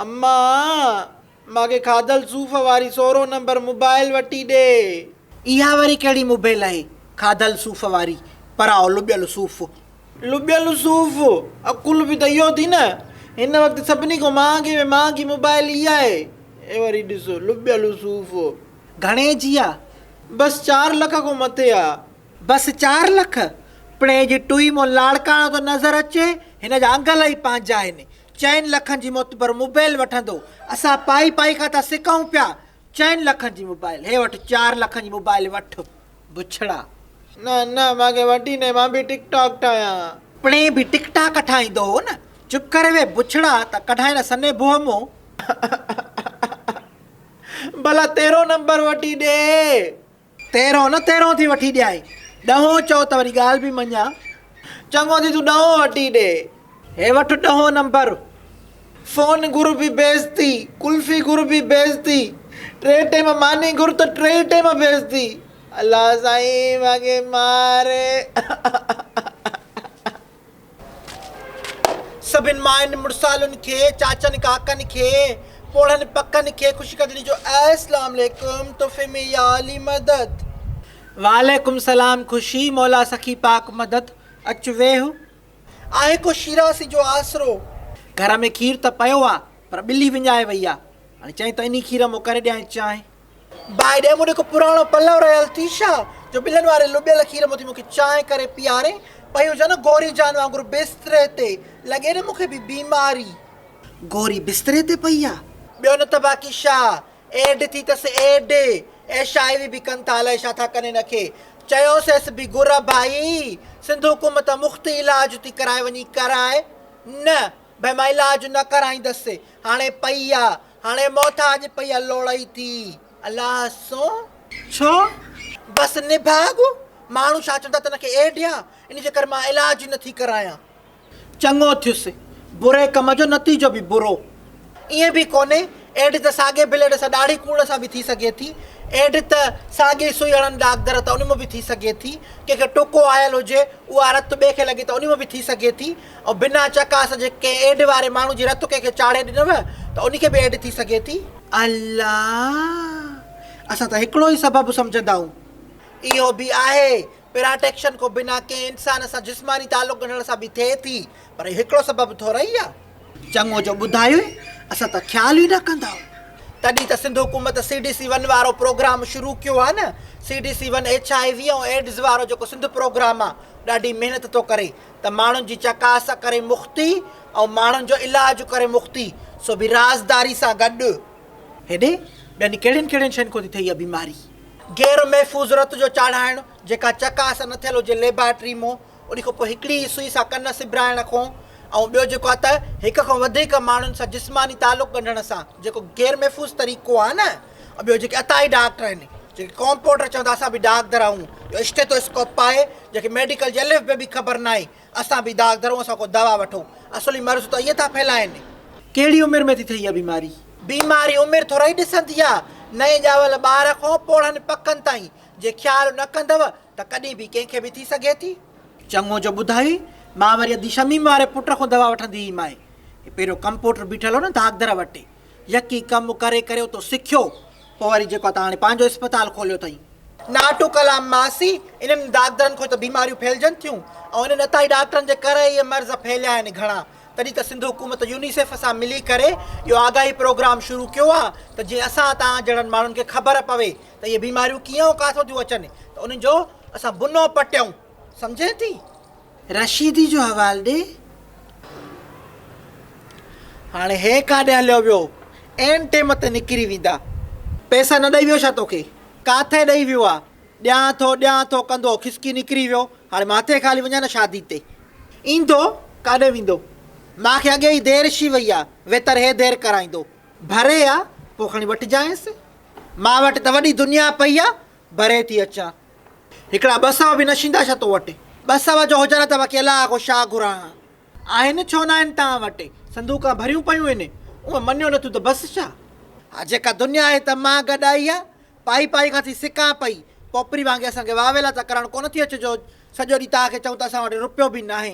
اما! مان کي کاڌل صوف واري سورهون نمبر موبائيل وٺي ڏي. اها وري ڪهڙي موبيل آهي کاڌل صوف واري، پراء لٻيل صوف. لٻيل صوف! عقل به ته اهو ٿي نه. هن وقت سڀني کان مهانگي ۾ مهانگي موبائيل اها آهي. هي وري ڏس لٻيل صوف. گهڻي جي آ؟ بس چار لک کان مٿي آ. بس چار لک؟ پڻ هي جي ٽوئي مون لاڙڪاڻو ٿو نظر اچي، هن جا انگل ئي پنهنجا آهن. چئن لکن جي معتبر موبيل وٺندو اسان پائي پائي کان ٿا سڪون پيا چئن لکن جي موبائل هي وٺ چار لکن جي موبائل وٺ بڇڙا. نه نه مان ڪي وٺي ناهي مان به ٽڪ ٽاڪ ٺاهيان. پڻهين به ٽڪ ٽاڪ ٺاهيندو هو نه. چپ ڪري ويهه بڇڙا ته ڪڍائين نه سني بوهه مون. ڀلا تيرهون نمبر وٺي ڏي. تيرهون نه تيرهون ٿي وٺي ڏيانء. ڏهون چئو ته وري ڳالهه به مڃان. چڱو ٿي تون ڏهون وٺي ڏي. هي وٺ ڏهون نمبر. فون گهر به بيعزتي، قلفي گهر به بيعزتي، ٽي ٽيم ماني گهر ته ٽيئي ٽيم بيعزتي. الله سائين مانکي مار. سڀن مائن مڙسالن کي چاچن ڪاڪن کي پوڙهن پڪن کي خوش قدري جو اسلام عليڪم تحفي ۾ يا علي مدد. وعليڪم سلام خوشي مولا سخي پاڪ مدد اچ ويھ. آهي ڪو شيراسي جو آسرو. گهر ۾ کير ته پيو آ پر ٻلي وڃائي وئي آ هاڻي چئين ته انهي کير مون ڪري ڏيائين چانهه. باء ڏي مون هڪ پراڻو پلئو رهيل تيشا جو ٻلن واري لٻيل کير مان ٿي مون کي چانهه ڪري پياري پئي هجان نه گوري جان وانگر بستري تي لڳي نه مون کي به بيماري. گوري بستري تي پئي آ. ٻيو نه ته باقي شا ايڊ ٿي تس ايڊ اي شاعري به ڪن ٿا الائي شا ٿا ڪن هن کي چيوسيس به گر ڀائي سنڌ حڪومت تان مفت علاج ٿي ڪرائي وڃي ڪرائي نه ڀائي مان علاج نه ڪرائيندس هاڻي پئي آ هاڻي محتاج پئي لوڙئي ٿي الله سون. ڇو؟ بس نڀاڳ ماڻهو ڇا چوندا تن کي اهي ڏيان ان جي ڪري مان علاج ئي نٿي ڪرايان. چڱو ٿيس، بري ڪم جو نتيجو به برو. ائين به ڪونهي، ايڊ ته ساڳي بليڊ سان ڏاڙهي ڪوڙ سان به ٿي سگهي ٿي. ايڊ ته ساڳي سوئي هڻن ڏاڪدر ته ان مان به ٿي سگهي ٿي. ڪنهن کي ٽڪو آيل هجي، اها رت ٻئي کي لڳي ته ان مان به ٿي سگهي ٿي. ۽ بنا چڪاس جي ڪنهن ايڊ واري ماڻهو جي رٿ ڪنهن کي چاڙهي ڏنوء ته ان کي به ايڊ ٿي سگهي ٿي. الله! اسان ته هڪڙو ئي سبب سمجهندائون. اهو به آهي، پراٽيڪشن ڪو بنا ڪنهن انسان سان جسماني تعلق ڳنڍڻ سان به ٿئي ٿي، پر اهو هڪڙو سبب ٿورئي آ. چڱو جو ٻڌايوء، اسان ته خيال ئي نه ڪندائون. تڏهن ته سنڌ حڪومت سي ڊي سي ون وارو پروگرام شروع ڪيو آ نه. C D C one H I V ۽ AIDS وارو جيڪو سنڌ پروگرام آ، ڏاڍي محنت ٿو ڪري. ته ماڻهن جي چڪاس ڪري مختي ۽ ماڻهن جو علاج ڪري مختي سو به رازداري سان گڏ. هيڏي ٻين ڪهڙين ڪهڙين شين کان ٿي ٿئي اها بيماري. غير محفوظ رت جو چاڙهائڻ، جيڪا چڪاس نه ٿيل هجي ليبارٽري مون ان کان پوء هڪڙي ئي سوئي سان ڪن سبرائڻ کون ۽ ٻيو جيڪو آهي ته هڪ کان وڌيڪ ماڻهن سان جسماني تعلق ڳنڍڻ سان جيڪو غير محفوظ طريقو آهي نه ۽ ٻيو جيڪي عطائي ڊاڪٽر آهن، جن کي ڪامپوڊر چون ٿا، اسان به ڊاڪدر آهون، جو اسٽيٿوسڪوپ پائي، جنهن کي ميڊيڪل جي الف بي به خبر ناهي، اسان به ڊاڪدر آهون، اسان کان دوا وٺو، اصلي مرض ته ائين ٿا ڦهلائين. ڪهڙي عمر ۾ ٿي ٿئي اها بيماري؟ بيماري عمر ٿورائي ڏسندي آهي، نئين ڄاول ٻار کان پوڙهن پڪن تائين جي خيال نه ڪندو ته ڪڏهن به ڪنهن کي به ٿي سگهي ٿي. چڱو جو ٻڌائي، مان وري ادي شميم واري پٽ کان دوا وٺندي هئي مائي، هي پهريون ڪمپوڊر بيٺل هو نه ڊاڪدر وٽ، يڪي ڪم ڪري ڪري اتو سکيو پوء وري جيڪو تان هاڻي پنهنجو اسپتال کوليو اٿئي. ناٽو ڪلام ماسي انهن ڊاڪدرن کان ئي ته بيماريون ڦهلجن ٿيون ۽ انهن اتائي ڊاڪٽرن جي ڪري ئي اهي مرض ڦهليا آهن گهڻا تڏهن ته سنڌ حڪومت يونيسيف سان ملي ڪري اهو آگاهي پروگرام شروع ڪيو آهي ته جيئن اسان تان جهڙن ماڻهن کي خبر پوي ته اهي بيماريون ڪيئن ۽ ڪاٿو ٿيون اچن ته انهن جو اسان بنو پٽيون سمجهين ٿي. رشيدي جو حوال ڏي. هاڻي هي ڪاڏي هليو ويو. عين ٽيم تي نڪري ويندا. پيسا نه ڏئي ويو ڇا توکي؟ ڪاٿي ڏئي ويو آ. ڏيان ٿو ڏيان ٿو ڪندو کسڪي نڪري ويو. هاڻي مان ٿي خالي وڃان نه شادي تي. ايندو ڪاڏي ويندو. مان کي اڳي ئي دير شي وئي آ. ويتر هي دير ڪرائيندو. ڀري آ پوء کڻي وٺجانئس. مان وٽ ته وڏي دنيا پئي آ. ڀري ٿي اچان. هڪڙا ٻه سو به نشيندا ڇا تو وٽ؟ ٻه سو جو هجن ته وڪيلا ڪو شاهه گهران ها. آهن ڇو ناهن تان وٽ؟ صندوقان ڀريون پيون هن. اونء مڃيو نٿون ته بس ڇا؟ ها جيڪا دنيا آهي ته مان گڏ آئي ها. پائي پائي کان ٿي سڪان پئي. پوپري وانگي اسان کي واويلا ته ڪرڻ ڪونه ٿي اچي جو سڄو ڏينهن توهان کي چئون ته اسان وٽ روپيو به ناهي.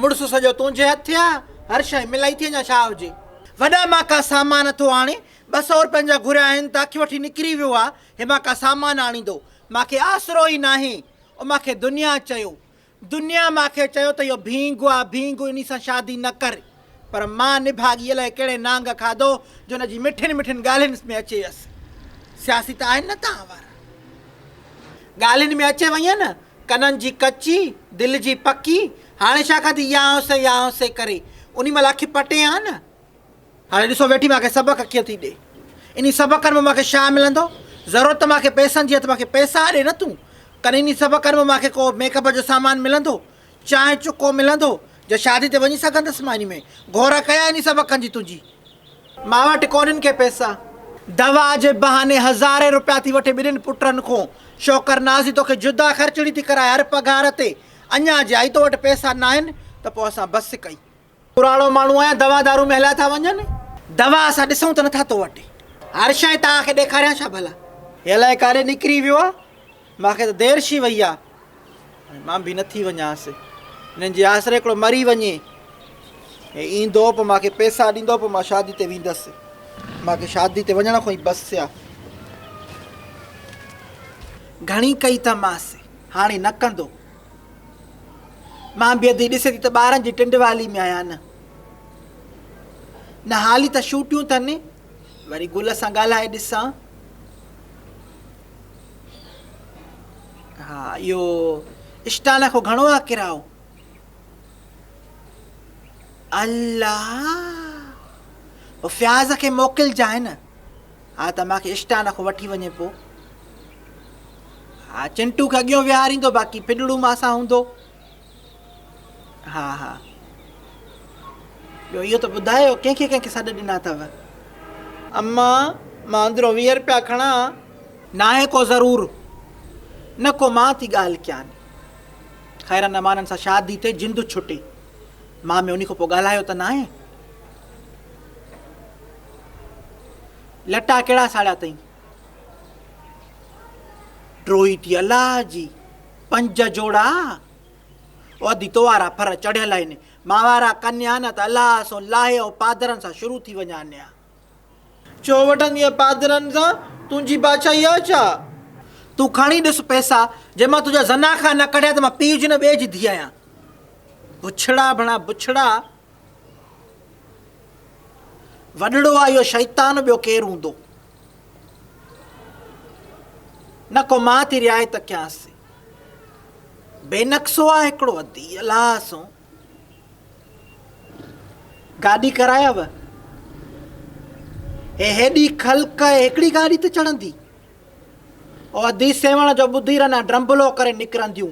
مڙس سڄو تنهنجي هٿ آ، هر شيء ملائي ٿي اڃا ڇا هجي. وڏا مان ڪا سامان اٿو آڻي، ٻه سئو روپين جا گهريا آهن ته اک وٺي نڪري ويو آ، هي مان ڪا سامان آڻيندو، مان کي آسرو ئي ناهي. او مان کي دنيا چيو. دنيا مان کي چيو ته اهو ڀينگ آ، ڀينگ، انهي سان شادي نه ڪر. پر مان نڀاڳي الائي ڪهڙي نانگ کاڌو جو ان جي مٺين مٺين ڳالهين ۾ اچي ويس. سياسي ته آهن نه توهان وارا. ڳالهين ۾ اچي وئين نه، ڪنن جي ڪچي، دل جي پڪي، هاڻي ڇا ڪندي يانهه سي يانهه سي ڪري، انهي مهل اک پٽين ها نه. هاڻي ڏسو ويٺي مان کي سبق ڪيئن ٿي ڏي. انهي سبقن مان مان کي ڇا ملندو؟ ضرورت ته مان کي پئسن جي آهي ته مان کي پئسا ڏي نه تون. ڪنهن انهي سبقن مان مان کي ڪو ميڪ اپ جو سامان ملندو؟ چانهه چڪو ملندو جو شادي تي وڃي سگهندس ماني ۾ گهورا ڪيا انهي سبب کان جي تنهنجي ماء وٽ ڪونهن ڪي پئسا. دوا جي بهاني هزارين روپيا ٿي وٺي ٻنهين پٽن کون شوڪر نازي توکي جدا خرچڙي ٿي ڪرائي هر پگهار تي اڃا جي آئي تو وٽ پئسا ناهن ته پوء اسان بس ڪئي پراڻو ماڻهو آهيان دوا دارو ۾ هليا ٿا وڃن دوا اسان ڏسون ته نٿا تو وٽ عرش ۽ تاء کي ڏيکاريان ڇا ڀلا هي الائي ڪاڏي نڪري ويو آ مان کي ته دير شي وئي آ مان به نٿي وڃانس انهن جي آسري هڪڙو مري وڃي هي ايندو پو مان کي پيسا ڏيندو پو مان شادي تي ويندس مان کي شادي تي وڃڻ کان ئي بس آ گهڻي ڪئي تماس هاڻي نه ڪندو مان بيهندي ڏسي ٿي ته ٻارن جي ٽنڊ والي ۾ آهيان نه نه حالي ته شوٽيون ٿن وري گل سان ڳالهائي ڏسان ها اهو اسٽان کان گهڻو آ ڪراو الله فياض کي موڪلجانء نه ها ته مان کي اسٽان کان وٺي وڃي پو. ها چنٽو کي اڳيون ويهاريندو باقي پڏڙو مان سان هوندو. ها ها ٻيو اهو ته ٻڌايو ڪنهن کي ڪنهن کي سڏ ڏنا اٿو. امان مان اندرون ويهه رپيا کڻان. ناهي ڪو ضرور نه ڪو مان ٿي ڳالهه ڪيان. خيرن امانن سان شادي تي جند ڇٽي. مان ۾ انهي کان پو ڳالهايو ته ناهي. لٽا ڪهڙا ساڙيا تئين. ٽروهي ٿي الله جي پنج جوڙا عهدي توارا ڦر چڙهيل آهن ماوارا ڪنيا نه ته الله سون لاهي ۽ پادرن سان شروع ٿي وڃان نيا. ڇو وٺندينء پادرن سان تنهنجي بادشاهي آهي ڇا؟ تون کڻي ڏس پئسا جي مان تنهنجا زناخا نه ڪڍيا ته مان پيء جي نه ٻئي جي ڌيء آهيان. بڇڙا ڀڻا بڇڙا وڏڙو آ اهو شيطان ٻيو ڪير هوندو نه ڪو مان ٿي رعايت ڪيانس بي نقصو آ هڪڙو ادي الله سو گاڏي ڪرايا و هي هيڏي خلق هڪڙي گاڏي ته چڙهندي او ادي سيوڻ جو ٻڌي رنا ڊرمبلو ڪري نڪرنديون